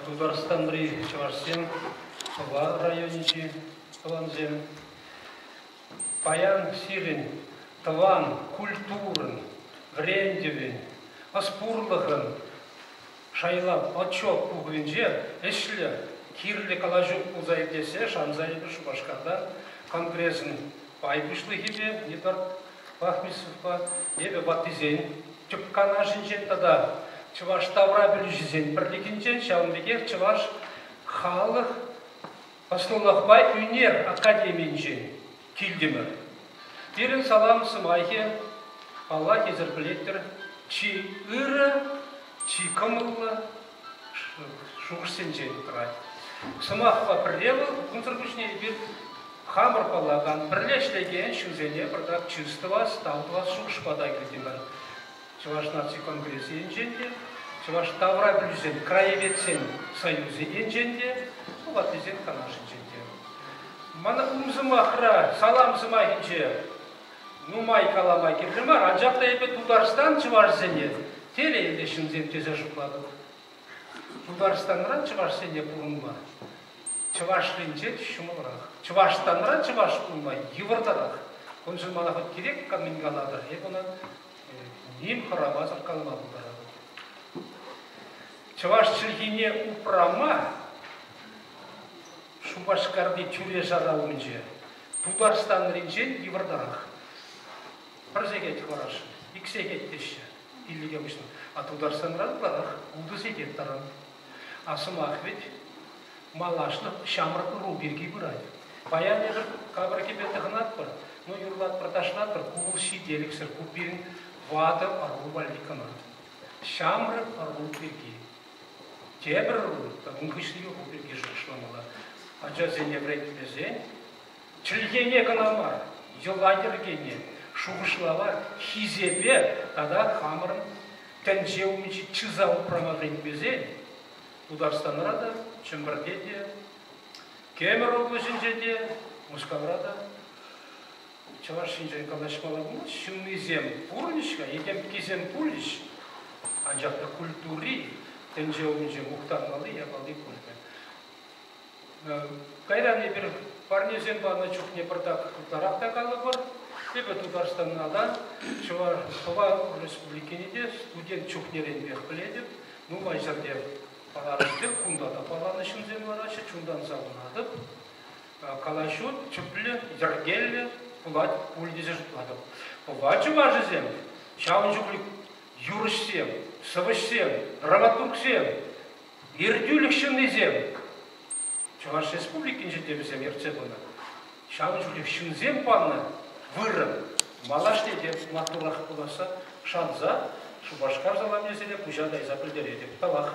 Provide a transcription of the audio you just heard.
Тутарстанри чӑвашсем, Пӑва районӗнчи тӑвансем, паян сирӗн тӑван культурӑн, вӗрентӗвӗн, ӑс-пурлӑхӑн шайлав отчет пухӑвӗнче ӗҫлӗ, кирлӗ калаҫу пулса иртессе шанса эпир Шупашкарта Конгресӑн пай пуҫлӑхӗпе Эдуард Бахмисовпа эпӗ ваттисен тӗп канашӗнчен тата чӑваш тавра пӗлӳҫисен пӗрлӗхӗнчен ҫавӑн пекех чӑваш халӑх ӑслӑлӑхпа ӳнер академийӗнчен килтӗмӗр. Пирӗн салам сӑмахӗ, паллах, эсӗр пӗлетӗр, чи ырӑ, чи кӑмӑллӑ, шухӑшсенчен тӑрать. Сӑмахпа пӗрле вӑл кунсӑр пуҫне эпир хамӑр паллакан пӗрле ӗҫлекен ҫынсене пӗртак чыс тӑвас, тав тӑвас шухӑшпа та килтимӗр. Чӑваш наци конгресӗ енчен те, чӑваш тавра пӗлӳсен краеведсен союзӗ енчен те, ваттисен канашӗнчен те. Мана ум сӑмахра, салам сӑмахӗнче нумай калама кирлӗ мар, анчах та эпӗ Тутарстан чӑвашсене, терӗ ӗнтӗ ҫынсем тесе шутлатӑп. Тутарстанра чӑвашсене пурӑнма чӑвашлинче ҫӑмӑлрах. Чӑвашстанра чӑваш пулма йывӑртарах. Куншӑн мана хӑть кирек мӗн калатӑр, эп ӑна ним хӑрамасӑр калма пултаратӑп. Чӑваш чӗлхине упрама Шупашкарти тӳре-шара умӗнче Тутарстанринчен йывӑртарах. Пӗр сехет хӑварасшӑн, ик сехет теҫҫӗ иллӗке пуҫланӑ. А Тутарстанран ытларах ултӑ сехет таран. А сӑмах вӗт малашлӑх ҫамрӑк ӑру пирки пырать. Паян эпир капӑркипе тӑхӑнатпӑр, ну юрлатпӑр, ташлатпӑр, ку вӑл ҫителӗксӗр, ку пирӗн ватӑ ӑру валли кӑна. Ҫамрӑк ӑру пирки. Тепӗр ун хыҫҫӑнхи ху пирки шухӑшламалла. Ачасене вӗрентмесен чӗлхене кӑна мар, йӑла-йӗркене, шухӑшлава, хисепе тата хамӑрӑн тӗнче умӗнчи чыса упрама вӗрентмесен Тутарстанра та, Чӗмпӗрте те, Кемӗр облаҫӗнче те, Мускавра та Чӑваш Енчен калаҫмалла пулать, ҫыннисем пурӑнӗҫ-ха, этемккисем пулӗҫ, анчах та культури тӗнче умӗнче мухтанмалли, япалти пулмӗ. Кайран эпир парнесем панӑ чухне пӑртак ытларах та калӑпӑр. Эпӗ Тутарстанна та, Чӑваш Тӑван Республикине те студент чухнеренпех пӗлетӗп. Нумай ҫӗрте паланӑ пек, кунта та паланӑ ҫынсем лараҫҫӗ, чунтан савӑнатӑп. калаҫу тӗплӗ, йӗркеллӗ пулать пуль тесе шутлатӑп. Пӑва чӑвашӗсем ҫавӑн чухлӗ юрӑҫсем, сӑвӑҫсем, драматургсем, иртӳлӗх ҫыннисем, Чӑваш Республикинче те вӗсем ертсе пынӑ. Ҫавӑн чухлӗ ҫынсем панӑ вырӑн малашне те маттуррах пуласса шанса Шупашкар саламӗсене куҫа кайса пӗлтеретӗп. Тавах.